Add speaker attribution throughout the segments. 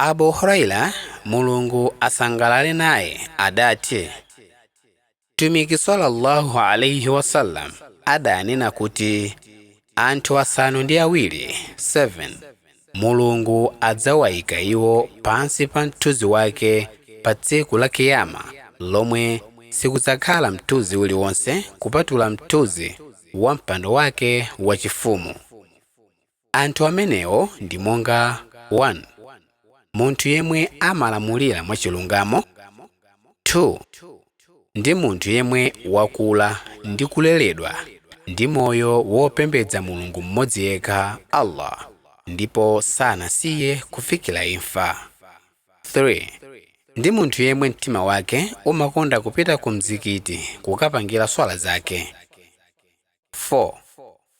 Speaker 1: Abu Huraira, Mulungu asangalale naye, adati, Mtumiki sallallahu alaihi wasallam adanena kuti anthu asanu ndi awiri Mulungu adzawaika iwo pansi pa mthunzi wake pa tsiku la Kiyama lomwe sikudzakhala mthunzi uliwonse kupatula mthunzi wa mpando wake wachifumu. Anthu amenewo ndi monga, 1 munthu yemwe amalamulira mwachilungamo, 2 ndi munthu yemwe wakula ndi kuleledwa ndi moyo wopembedza Mulungu mmodzi yekha, Allah, ndipo sanasiye kufikira imfa, 3 ndi munthu yemwe mtima wake umakonda kupita ku mzikiti kukapangira swala zake. 4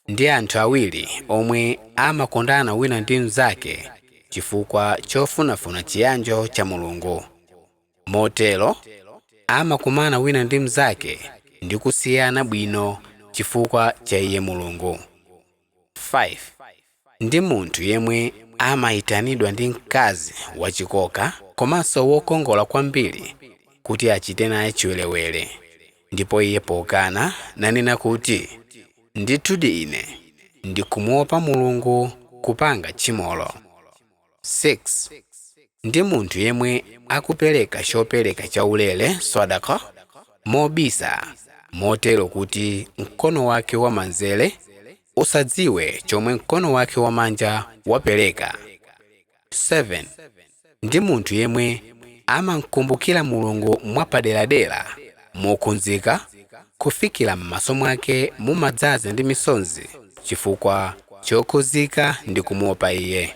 Speaker 1: ndi anthu awiri omwe amakondana wina ndi mnzake chifukwa chofunafuna chiyanjo cha Mulungu. Motero, amakumana wina ndi mnzake ndi kusiyana bwino chifukwa cha iye Mulungu. 5 ndi munthu yemwe amaitanidwa ndi mkazi wachikoka komanso wokongola kwambiri kuti achite naye chiwerewere, ndipo iye pokana nanena kuti, Ndithudi ine ndikumuopa Mulungu, kupanga tchimolo. 6 ndi munthu yemwe akupereka chopereka chaulere swadaka mobisa motero kuti mkono wake wamanzere usadziwe chomwe mkono wake wamanja wapereka 7 ndi munthu yemwe amamkumbukira mulungu mwapaderadera mokhudzika kufikira m'maso mwake mumadzaza ndi misonzi chifukwa chokhudzika ndi kumuopa iye